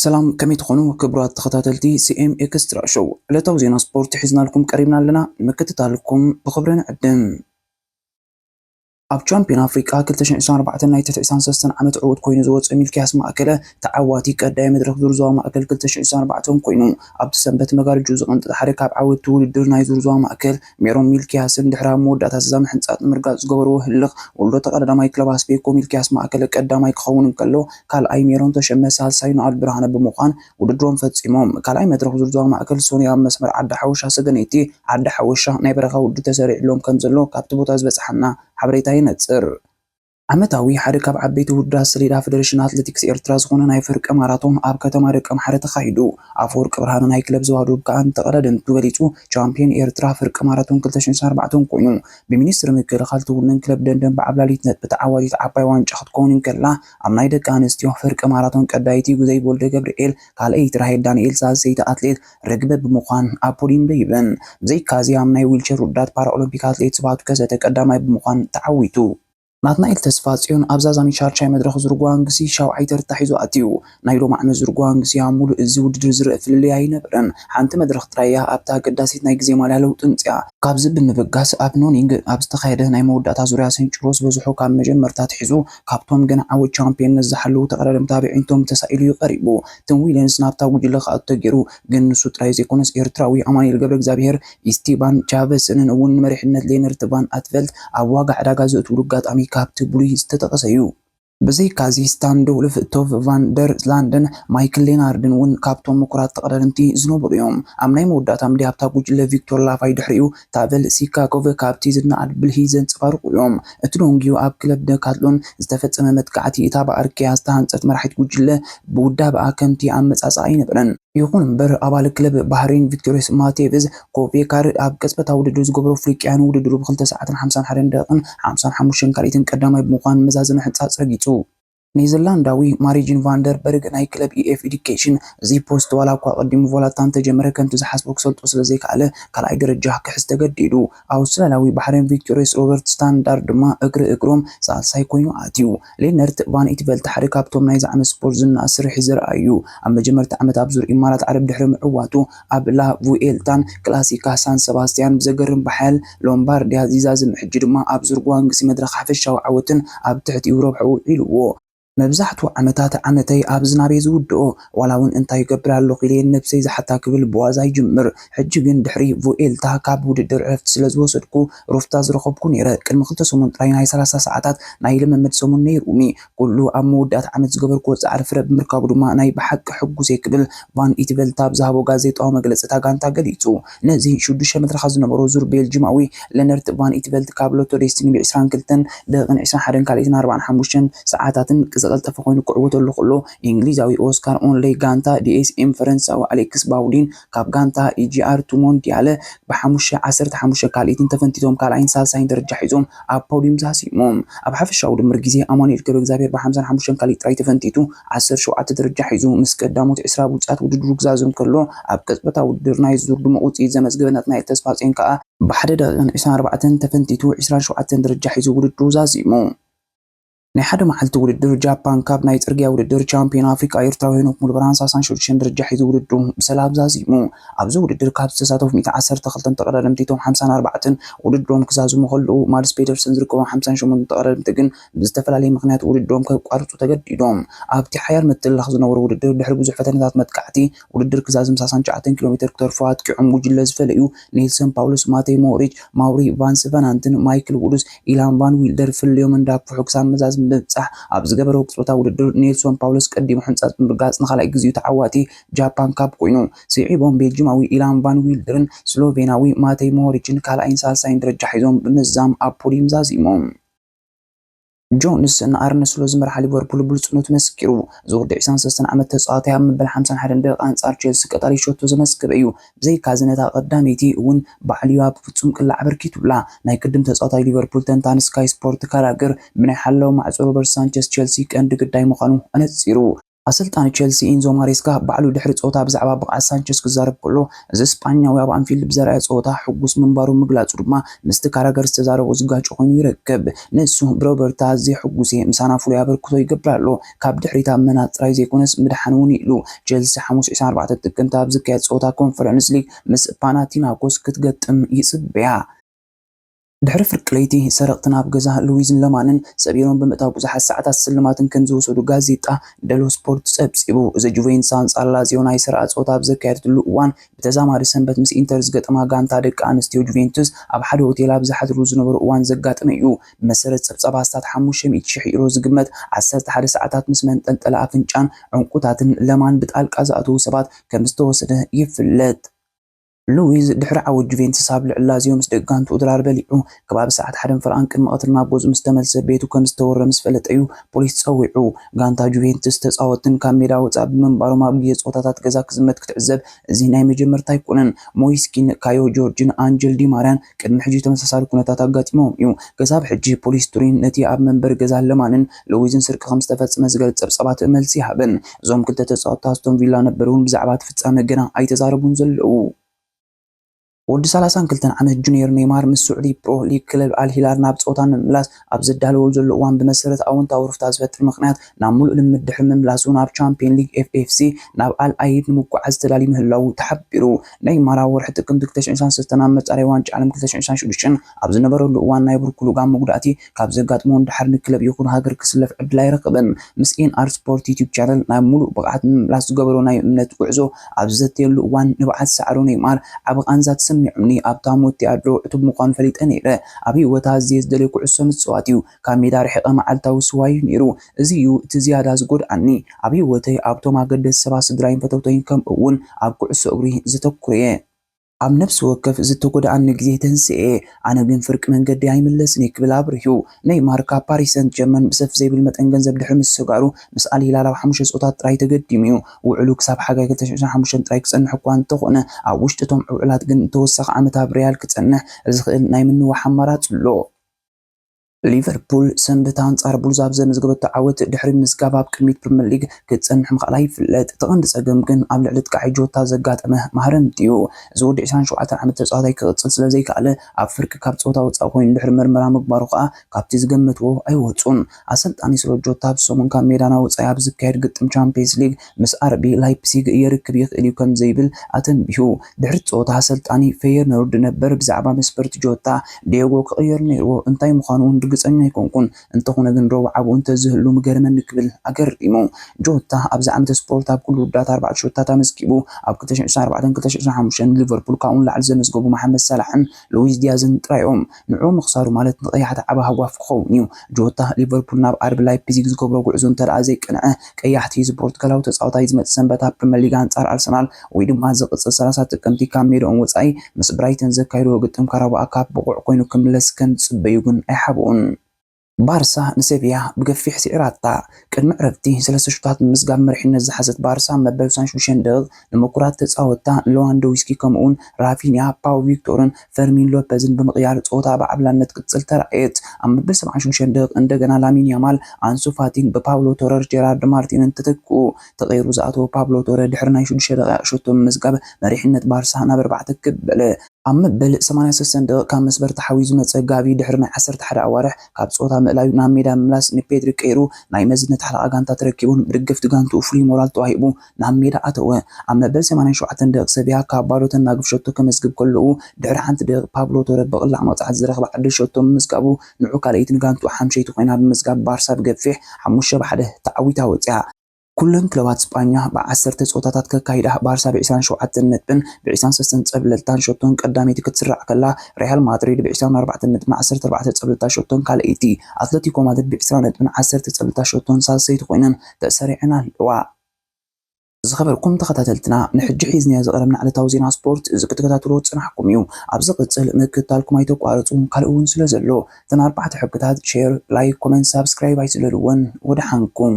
ሰላም ከመይ ትኾኑ ክቡራት ተኸታተልቲ ሲኤም ኤክስትራ ሾው ዕለታዊ ዜና ስፖርት ሒዝናልኩም ቀሪብና ኣለና ንምክትታልኩም ብኽብሪ ንዕድም ኣብ ቻምፕዮን ኣፍሪቃ ክልተ ሽሕን ዕስራን ኣርባዕተን ናይ ትሕቲ ዕስራን ሰለስተን ዓመት ዕዉት ኮይኑ ዝወጸ ሚልክያስ ማእከለ፣ ተዓዋቲ ቀዳይ መድረኽ ዙር ዞባ ማእከል ክልተ ሽሕን ዕስራን ኣርባዕተን ኮይኑ፣ ኣብቲ ሰንበት መጋርጅኡ ዝቐንጠጠ ሓደ ካብ ዓወትቲ ውድድር ናይ ዙር ዞባ ማእከል፣ ሜሮን ሚልክያስን ድሕሪ ኣብ መወዳእታ እዛ ምሕንጻጽ ንምርጋጽ ዝገበርዎ ህልኽ ወልዶ ተቐዳዳማይ ክለብ ኣስቤኮ ሚልክያስ ማእከለ ቀዳማይ ክኸውን እንከሎ፣ ካልኣይ ሜሮን ተሸመ፣ ሳልሳይ ኖኣል ብርሃነ ብምዃን ውድድሮም ፈፂሞም። ካልኣይ መድረኽ ዙር ዞባ ማእከል ሰኑይ ኣብ መስመር ዓዲ ሓወሻ ሰገነይቲ ዓዲ ሓወሻ ናይ በረኻ ውድድር ተሰሪዕሎም ከምዘሎ ካብቲ ቦታ ዝበፀሓና ሓበሬታ የነፅር። ዓመታዊ ሓደ ካብ ዓበይቲ ውድድራት ሰሌዳ ፈደረሽን ኣትሌቲክስ ኤርትራ ዝኾነ ናይ ፍርቂ ማራቶን ኣብ ከተማ ደቀምሓረ ተኻይዱ። ኣፈወርቂ ብርሃነ ናይ ክለብ ዞባ ዶብ ከኣ ንተቐዳደምቱ ገሊፁ ቻምፕዮን ኤርትራ ፍርቂ ማራቶን ክልተ ሽሕን ዕስራን ኣርባዕተን ኮይኑ። ብሚኒስትሪ ምክልኻል ትውነን ክለብ ደንደን ብዓብላሊት ነጥቢ ተዓዋቲት ዓባይ ዋንጫ ክትከውን እንከላ፣ ኣብ ናይ ደቂ ኣንስትዮ ፍርቂ ማራቶን ቀዳይቲ ጉዘይ ቦልደገብርኤል፣ ካልኣይቲ ራሄል ዳንኤል፣ ሳልሰይቲ ኣትሌት ርግበ ብምኳን ኣብ ፖድዩም ደይበን። ብዘይካዚ ኣብ ናይ ዊልቸር ውድዳት ፓራኦሎምፒክ ኣትሌት ስብሃቱ ከሰተ ቀዳማይ ብምኳን ተዓዊቱ። ናትናኤል ተስፋጽዮን ኣብዛ ዛሚ ሻድሻይ መድረኽ ዝርጓንግሲ ሻውዓይ ተርታ ሒዙ ኣትዩ። ናይ ሎሚ ዓመት ዝርጓንግሲ ኣብ ሙሉእ እዚ ውድድር ዝርእ ፍልልይ ኣይነበረን። ሓንቲ መድረኽ ጥራይ እያ ኣብታ ኣገዳሲት ናይ ግዜ ማልያ ለውጢ ኣምጺኣ። ካብዚ ብምብጋስ ኣብ ኖኒንግ ኣብ ዝተኻየደ ናይ መወዳእታ ዙርያ ስንጭሮ ዝበዝሑ ካብ መጀመርታ ኣትሒዙ ኣብቶም ገና ዓወት ቻምፕዮንነት ዝሓለዉ ተቐዳደምቲ ኣበዒንቶም ተሳኢሉ'ዩ ቀሪቡ። ቲም ዊሊንስ ናብታ ጉጅለ ክኣቱ ተገይሩ። ግን ንሱ ጥራይ ዘይኮነስ ኤርትራዊ ኣማኑኤል ገብረእግዚኣብሄር፣ ኢስቲባን ቻቨስንን እውን ንመሪሕነት ሌነርት ቫን ኣትቨልት ኣብ ዋጋ ዕዳጋ ዘእትውሉ ኣጋጣሚ ካብቲ ብሉይ ዝተጠቐሰ'ዩ። ብዘይካ'ዚ ስታን ዶልፍ፣ ቶቭ ቫን ደር ላንደን፣ ማይክል ሌናርድን እውን ካብቶም ምኩራት ተቐዳደምቲ ዝነበሩ'ዮም። ኣብ ናይ መወዳእታ ምድያ'ታ ጉጅለ ቪክቶር ላቫይ ድሕሪኡ ታቨል ሲካኮቭ ካብቲ ዝነኣድ ብልሒ ዘንጸባርቑ እዮም። እቲ ሎንጊዩ ኣብ ክለብ ደካትሎን ዝተፈጸመ መጥቃዕቲ፣ እታ ብኣርክያ ዝተሃንጸት መራሒት ጉጅለ ብውዳበኣ ከምቲ ኣመጻጽኣ ኣይነበረን። ይኹን እምበር፣ ኣባል ክለብ ባህሬን ቪክቶርዮስ ማቴቭዝ ኮቬካር ኣብ ቅጽበታዊ ውድድር ዝገበሮ ፍሪቅያ ንውድድሩ ብ ክልተ ሰዓትን ሓምሳን ሓደን ደቂቕን ሓምሳን ሓሙሽተን ካልኢትን ቀዳማይ ብምዃን መዛዘሚ ሕንጻጽ ረጊጹ። ኔዘርላንዳዊ ማሪጅን ቫን ደር በርግ ናይ ክለብ ኢኤፍ ኤዱኬሽን እዚ ፖስት ዋላ እኳ ኣቐዲሙ ቮላታ እንተጀመረ ከምቲ ዝሓስቦ ክሰልጦ ስለዘይከኣለ ካልኣይ ደረጃ ክሕዝ ተገዲዱ። ኣውስትራልያዊ ባሕሬን ቪክቶሪየስ ሮበርት ስታንዳርድ ድማ እግሪ እግሮም ሳልሳይ ኮይኑ ኣትዩ። ሌነርት ቫን ኢትቨልት ሓደ ካብቶም ናይዚ ዓመት ስፖርት ዝነኣድ ስርሒት ዘርኣዩ እዩ። ኣብ መጀመርታ ዓመት ኣብ ዙር ኢማራት ዓረብ ድሕሪ ምዕዋቱ፣ ኣብ ላ ቭኡኤልታን ክላሲካ ሳን ሰባስትያን ብዘገርም ብሓያል ሎምባርድያ ዚዛዝም ሕጂ ድማ ኣብ ዙር ግዋንግሲ መድረኽ ሓፈሻዊ ዓወትን ኣብ ትሕቲኡ ረብሕኡ ውዒሉዎ። መብዛሕትኡ ዓመታት ዓመተይ ኣብ ዝናብ'የ ዝውድኦ፣ ዋላ'ውን እንታይ እገብር ኣለኹ ኢለ'የ ንነብሰይ ዝሓታ ክብል ብዋዛ ይጅምር። ሕጂ ግን ድሕሪ ቭኡኤልታ ካብ ውድድር ዕረፍቲ ስለ ዝወሰድኩ ሩፍታ ዝረኸብኩ ነይረ። ቅድሚ ክልተ ሰሙን ጥራይ ናይ ሰላሳ ሰዓታት ናይ ልምምድ ሰሙን ነይሩኒ። ኩሉ ኣብ መወዳእታ ዓመት ዝገበርክዎ ጻዕሪ ፍረ ብምርካቡ ድማ ናይ ብሓቂ ሕጉስ'የ ክብል ቫን ኢትቨልት ኣብ ዝሃቦ ጋዜጣዊ መግለጺ እታ ጋንታ ገሊጹ። ነዚ ሽዱሽተ መትረኻት ዝነበሮ ዙር ቤልጂማዊ ለነርት ቫን ኢትቨልት ካብ ሎቶ ዴስቲኒ ብ ዕስራን ክልተን ደቂቕን ዕስራን ሓደን ካልኣይትን ኣርባዓን ሓሙሽተን ሰዓታትን ዝቐልጠፈ ኮይኑ ክዕወተሉ ከሎ፣ እንግሊዛዊ ኦስካር ኦንለይ ጋንታ ዲኤስኤም ፈረንሳዊ ኣሌክስ ባውዲን ካብ ጋንታ ኢጂኣር እቲ ሞንዲያል ብሓሙሽተ ዓሰርተ ሓሙሽተ ካልኢትን ተፈንቲቶም ካልኣይን ሳልሳይን ደረጃ ሒዞም ኣብ ፖድዩም ተሳሲሞም። ኣብ ሓፈሻዊ ድምር ግዜ ኣማኑኤል ገብረእግዚኣብሄር ብሓምሳን ሓሙሽተን ካልኢት ጥራይ ተፈንቲቱ ዓሰርተ ሸውዓተ ደረጃ ሒዙ ምስ ቀዳሞት ዕስራ ብሉጻት ውድድሩ ክዛዝም ከሎ ኣብ ቅጽበታዊ ውድድር ናይ ዙር ድሙቕ ውጽኢት ዘመዝገበ ናትናኤል ተስፋጽዮን ከኣ ብሓደ ደቒቕን ዕስራን ኣርባዕተን ተፈንቲቱ ዕስራን ሸውዓተን ደረጃ ሒዙ ውድድሩ ዛዚሙ። ናይ ሓደ መዓልቲ ውድድር ጃፓን ካብ ናይ ጽርግያ ውድድር ቻምፒዮን ኣፍሪቃ ኤርትራዊ ሄኖክ ሙሉብርሃን ሳሳን ሽዱሽተን ደረጃ ሒዙ ውድድሩ ብሰላም ዛዚሙ። ኣብዚ ውድድር ካብ ዝተሳተፉ ሚእቲ ዓሰርተ ክልተ ተቐዳደምቲ እቶም ሓምሳን ኣርባዕተን ውድድሮም ክዛዝሙ ከለዉ ማድስ ፔደርሰን ዝርከቦም ሓምሳን ሸሞንተን ተቐዳደምቲ ግን ብዝተፈላለየ ምኽንያት ውድድሮም ከቋርጹ ተገዲዶም። ኣብቲ ሓያል ምትልላኽ ዝነበሮ ውድድር ድሕሪ ብዙሕ ፈተነታት መጥቃዕቲ ውድድር ክዛዝም ሳሳን ትሽዓተን ኪሎ ሜተር ክተርፎ ኣጥቂዖም ጉጅለ ዝፈለዩ ኔልሰን ፓውሎስ፣ ማተይ ሞሪች፣ ማውሪ ቫንስ ቨናንትን ማይክል ዉዱስ ኢላን ቫን ዊልደር ፍልልዮም እንዳግፍሑ ክሳብ መዛዝም ብምብጻሕ ኣብ ዝገበርዎ ቅጽበታዊ ውድድር ኔልሶን ፓውሎስ ቀዲሙ ሕንጻጽ ብምርጋጽ ንኻልኣይ ግዜኡ ተዓዋቲ ጃፓን ካፕ ኮይኑ። ስዒቦም ቤልጅማዊ ኢላን ቫን ዊልደርን ስሎቬናዊ ማተይ ሞሪችን ካልኣይን ሳልሳይን ደረጃ ሒዞም ብምዝዛም ኣብ ፖድዩም ዛዚሞም። ጆንስ ንኣርነ ስሎት ዝመርሓ ሊቨርፑል ብሉጽነቱ መስኪሩ። እዚ ወዲ ዕስራን ሰለስተን ዓመት ተጻዋታይ ኣብ መበል ሓምሳን ሓደን ደቂቃ ኣንጻር ቼልሲ ቀጣሊ ሸቶ ዘመዝገበ እዩ። ብዘይካ'ዚ ነታ ቀዳመይቲ እውን ባዕሉ እዩ ኣብ ፍጹም ቅላዕ ኣበርኪቱላ። ናይ ቅድም ተጻዋታይ ሊቨርፑል ተንታኒ ስካይ ስፖርት ካራግር ብናይ ሓላዊ ማዕጾ ሮበርት ሳንቸስ ቼልሲ ቀንዲ ግዳይ ምዃኑ ኣነጺሩ። ኣሰልጣኒ ቸልሲ ኢንዞ ማሬስካ ባዕሉ ድሕሪ ጸወታ ብዛዕባ ብቕዓት ሳንቸስ ክዛረብ ከሎ፣ እዚ ስጳኛዊ ኣብ ኣንፊልድ ብዘርኣዮ ጸወታ ሕጉስ ምንባሩ ምግላጹ ድማ ምስቲ ካራገር ዝተዛረቦ ዝጋጮ ኮይኑ ይረክብ። ንሱ ብሮበርታ ኣዝየ ሕጉስ'የ፣ ምሳና ፍሉይ ኣበርክቶ ይገብር ኣሎ፣ ካብ ድሕሪት ኣብ ምናጽ ጥራይ ዘይኮነስ ምድሓን'ውን ኢሉ። ቸልሲ ሓሙስ ዕስራን ኣርባዕተን ጥቅምቲ ኣብ ዝካየድ ጸወታ ኮንፈረንስ ሊግ ምስ ፓናቲናኮስ ክትገጥም ይጽበያ። ድሕሪ ፍርቂ ለይቲ፣ ሰረቕቲ ናብ ገዛ ሉዊዝን ለማንን ሰቢሮም ብምእታው ብዙሓት ሰዓታት ስልማትን ከም ዝወሰዱ ጋዜጣ ደሎ ስፖርት ጸብጺቡ። እዚ ጁቬንትስ ኣንጻር ላዚዮ ናይ ሰሪኣ ጸወታ ኣብ ዘካየደትሉ እዋን፣ ብተዛማዲ ሰንበት ምስ ኢንተር ዝገጠማ ጋንታ ደቂ ኣንስትዮ ጁቬንቱስ ኣብ ሓደ ሆቴል ኣብ ዝሓድርሉ ዝነበሩ እዋን ዘጋጠመ እዩ። ብመሰረት ጸብጻብ ኣስታት ሓሙሽተ ሚእቲ ሽሕ ዩሮ ዝግመት ዓሰርተ ሓደ ሰዓታት ምስ መንጠልጠሊ ኣፍንጫን ዑንቊታትን ለማን ብጣልቃ ዝኣተዉ ሰባት ከም ዝተወሰደ ይፍለጥ። ሉዊዝ ድሕሪ ዓወት ጁቬንትስ ኣብ ልዕሊ ላዚዮ ምስ ደቂ ጋንትኡ ድራር በሊዑ ከባቢ ሰዓት ሓደን ፈረቓን ቅድሚ ቀትሪ ናብ ገዝኡ ምስ ተመልሰ ቤቱ ከም ዝተወረረ ምስ ፈለጠ'ዩ ፖሊስ ጸዊዑ። ጋንታ ጁቬንትስ ተጻወትን ካብ ሜዳ ወጻኢ ብምንባሮም ኣብ ግዜ ጸወታታት ገዛ ክዝመት ክትዕዘብ እዚ ናይ መጀመርታ ኣይኮነን። ሞይስ ኪን፣ ካዮ ጆርጅን ኣንጀል ዲ ማርያን፣ ቅድሚ ሕጂ ተመሳሳሊ ኩነታት ኣጋጢሞም እዩ። ክሳብ ሕጂ ፖሊስ ቱሪን ነቲ ኣብ መንበሪ ገዛ ለማንን ሉዊዝን ስርቂ ከም ዝተፈጽመ ዝገልጽ ጸብጻባት መልሲ ኣይሃበን። እዞም ክልተ ተጻወትቲ ኣስቶን ቪላ ነበር እውን ብዛዕባ እቲ ፍጻመ ገና ኣይተዛረቡን ዘለዉ። ወዲ ሰላሳን ክልተን ዓመት ጁንየር ኔይማር ምስ ስዑዲ ፕሮ ሊግ ክለብ ኣል ሂላል ናብ ጸወታ ንምምላስ፣ ኣብ ዝዳለወሉ ዘሎ እዋን ብመሰረት ኣወንታዊ ሩፍታ ዝፈጥር ምኽንያት ናብ ሙሉእ ልምምድ ድሕሪ ምምላሱ ናብ ቻምፒየን ሊግ FFC ናብ ኣል ኣይድ ንምጉዓዝ ተዳልዩ ምህላዉ ተሓቢሩ። ነይማር ኣብ ወርሒ ጥቅምቲ ክልተ ሽሕን ሸውዓን ሰለስተን ኣብ መፃረዪ ዋንጫ ዓለም ክልተ ሽሕን ሸውዓን ሽዱሽተን ኣብ ዝነበረሉ እዋን ናይ ብርኩ ልጓም መጉዳእቲ ካብ ዘጋጥሞ ንደሓር ንክለብ ይኹን ሃገር ክስለፍ ዕድል ኣይረኸበን። ምስ ኤንኣር ስፖርት ዩቱብ ቻነል ናብ ሙሉእ ብቕዓት ንምምላስ ዝገበሮ ናይ እምነት ጉዕዞ ኣብ ዝዘትየሉ እዋን ንብዓት ሳዕሩ ነይማር ዓቢ ቃንዛ ተሰሚዑኒ ኣብ ታሞቲ ኣድሮ ዕቱብ ምዃኑ ፈሊጠ ነይረ። ኣብ ህይወት ኣዝየ ዝደልዮ ኩዕሶ ምጽዋት እዩ። ካብ ሜዳ ርሒቐ መዓልታዊ ስዋይ እዩ ነይሩ። እዚ እዩ እቲ ዝያዳ ዝጎድኣኒ። ኣብ ህይወተይ ኣብቶም ኣገደስቲ ሰባት ስድራይን ፈተውተይን ከምኡ'ውን ኣብ ኩዕሶ እግሪ ዘተኩር'የ። ኣብ ነፍሲ ወከፍ ዝተጎድኣኒ ግዜ ተንሲኤ፣ ኣነ ግን ፍርቂ መንገዲ ኣይምለስን እየ ክብል ኣብሪሁ። ነይማር ካብ ፓሪስ ሰንት ጀርመን ብሰፍ ዘይብል መጠን ገንዘብ ድሕሪ ምስግጋሩ፣ ምስ ኣል ሂላል ኣብ ሓሙሽተ ጸወታት ጥራይ ተገዲሙ እዩ። ውዕሉ ክሳብ ሓጋይ ክልተ ሽሕ ዕስራን ሓሙሽተን ጥራይ ክጸንሕ እኳ እንተኾነ፣ ኣብ ውሽጢ እቶም ዕውዕላት ግን ንተወሳኺ ዓመት ኣብ ሪያል ክጸንሕ ዝኽእል ናይ ምንዋሕ ኣማራጺ ኣሎ። ሊቨርፑል ሰንበት ኣንጻር ቡልዝ ኣብ ዘመዝገበቶ ዓወት ድሕሪ ምምዝጋብ ኣብ ቅድሚት ፕሪመር ሊግ ክትጸንሕ ምኽኣላ ይፍለጥ። እቲ ቀንዲ ጸገም ግን ኣብ ልዕሊ ኣጥቃዒ ጆታ ዘጋጠመ ማህረምቲ'ዩ። እዚ ወዲ ዕስራን ሸውዓተን ዓመት ተጻዋታይ ክቕጽል ስለዘይከኣለ ኣብ ፍርቂ ካብ ጸወታ ወጻኢ ኮይኑ ድሕሪ መርመራ ምግባሩ ከኣ ካብቲ ዝገመትዎ ኣይወጹን። ኣሰልጣኒ ስሎጆታ ኣብዚ ሰሙን ካብ ሜዳና ወጻኢ ኣብ ዝካየድ ግጥም ቻምፕየንስ ሊግ ምስ ኣርቢ ላይፕሲግ የርክብ ይኽእል'ዩ ከምዘይብል ኣተንቢሁ። ድሕሪ'ቲ ጸወታ ኣሰልጣኒ ፈየርኑርድ ነበር ብዛዕባ መስፈርቲ ጆታ፣ ዲየጎ ክቕየር ነይርዎ፣ እንታይ ምዃኑ'ውን ርግጸኛ ኣይኮንኩን፣ እንተኾነ ግን ረቡዕ ኣብኡ እንተዝህሉ ምገረመኒ ክብል ኣገሪሙ። ጆታ ኣብዚ ዓመተ ስፖርት ኣብ ኩሉ ውድድራት ኣርባዕተ ሸቶታት ኣመዝጊቡ፣ ኣብ ክልተ ሽሕን ዕስራን ኣርባዕተን ክልተ ሽሕን ዕስራን ሓሙሽተን ሊቨርፑል ካብኡ ንላዕሊ ዘመዝገቡ መሓመድ ሳላሕን ሉዊስ ዲያዝን ጥራይ'ዮም። ንዕኡ ምኽሳሩ ማለት ንቀያሕቲ ዓቢ ሃጓፍ ክኸውን እዩ። ጆታ፣ ሊቨርፑል ናብ ኣርቢ ላይፕዚግ ዝገብሮ ጉዕዞ እንተደኣ ዘይቀንዐ፣ ቀያሕቲ እዚ ፖርቱጋላዊ ተጻዋታይ እዚ መጽእ ሰንበት ኣብ ፕሪመር ሊግ ኣንጻር ኣርሰናል ወይ ድማ ዝቕጽል ሰላሳ ጥቅምቲ ካብ ሜድኦም ወጻኢ ምስ ብራይተን ዘካይድዎ ግጥም ካራቦ ኣካፕ ብቑዕ ኮይኑ ክምለስ ከም ዝጽበዩ ግን ኣይሓብኡን። ባርሳ ንሰቪያ ብገፊሕ ስዒራታ። ቅድሚ ዕረፍቲ ሰለስተ ሹታት ብምምዝጋብ መሪሕነት ዝሓዘት ባርሳ መበል ሳን ሹሸን ደቒቕ ንምቁራት ተጻወትታ ንለዋንዶዊስኪ ከምኡ'ውን ራፊንያ፣ ፓው ቪክቶርን ፈርሚን ሎፐዝን ብምቕያር ጸወታ ብዓብላነት ክትቅጽል ተራእየት። ኣብ መበል ሰብዓን ሹምሸን ደቒቕ እንደገና ላሚን ያማል፣ ኣንሱ ፋቲን ብፓብሎ ቶረር ጀራርድ ማርቲንን ተተክኡ። ተቐይሩ ዝኣተወ ፓብሎ ቶረ ድሕሪ ናይ ሽዱሽተ ደቓይቕ ሸቶ ምምዝጋብ መሪሕነት ባርሳ ናብ ኣርባዕተ ክብ በለ። ኣብ መበል ሰማንያ ሰሰን ደቒቕ ካብ መስመር ተሓቢኡ ዝመጸ ጋቪ ድሕሪ ናይ ዓሰርተ ሓደ ኣዋርሕ ካብ ጸወታ ምእላዩ ናብ ሜዳ ምምላስ ንፔድሪ ቀይሩ ናይ መዝነት ሓለቓ ጋንታ ተረኪቡን ብደገፍቲ ጋንትኡ ፍሉይ ሞራል ተዋሂቡ ናብ ሜዳ ኣተወ። ኣብ መበል ሰማንያን ሸውዓተን ደቒቕ ሰቪያ ካብ ባዶ ተናግፍ ሸቶ ከመዝግብ ከሎኡ ድሕሪ ሓንቲ ደቒቕ ፓብሎ ቶረ ብቕላዕ መቕጻዕቲ ዝረኽባ ዕድል ሸቶ ምምዝጋቡ ንዑ ካልኣይቲ ንጋንትኡ ሓምሸይቲ ኮይና ብምዝጋብ ባርሳ ብገፊሕ ሓሙሽተ ብ ሓደ ተዓዊታ ወጺኣ። ኩለን ክለባት ስጳኛ ብዓሰርተ ጸወታታት ከካይዳ፣ ባርሳ ብዕስራን ሸውዓተን ነጥብን ብዕስራን ሰለስተን ጸብለልታን ሸቶን ቀዳመይቲ ክትስራዕ ከላ፣ ርያል ማድሪድ ብዕስራን ኣርባዕተን ነጥብን ዓሰርተ ኣርባዕተ ጸብለልታ ሸቶን ካልኣይቲ፣ ኣትለቲኮ ማድሪድ ብዕስራ ነጥብን ዓሰርተ ጸብለልታ ሸቶን ሳልሰይቲ ኮይነን ተሰሪዐን ኣለዋ። ዝኸበርኩም ተኸታተልትና ንሕጂ ሒዝናዮ ዝቐረብና ዕለታዊ ዜና ስፖርት እዚ ክትከታተልዎ ዝጸናሕኩም እዩ። ኣብ ዝቕጽል ምክትታልኩም ኣይተቋርጹ ካልእ እውን ስለ ዘሎ እተን ኣርባዕተ ሕግታት፣ ሼር፣ ላይክ፣ ኮመንት፣ ሳብስክራይብ ኣይትለልወን። ወደሓንኩም።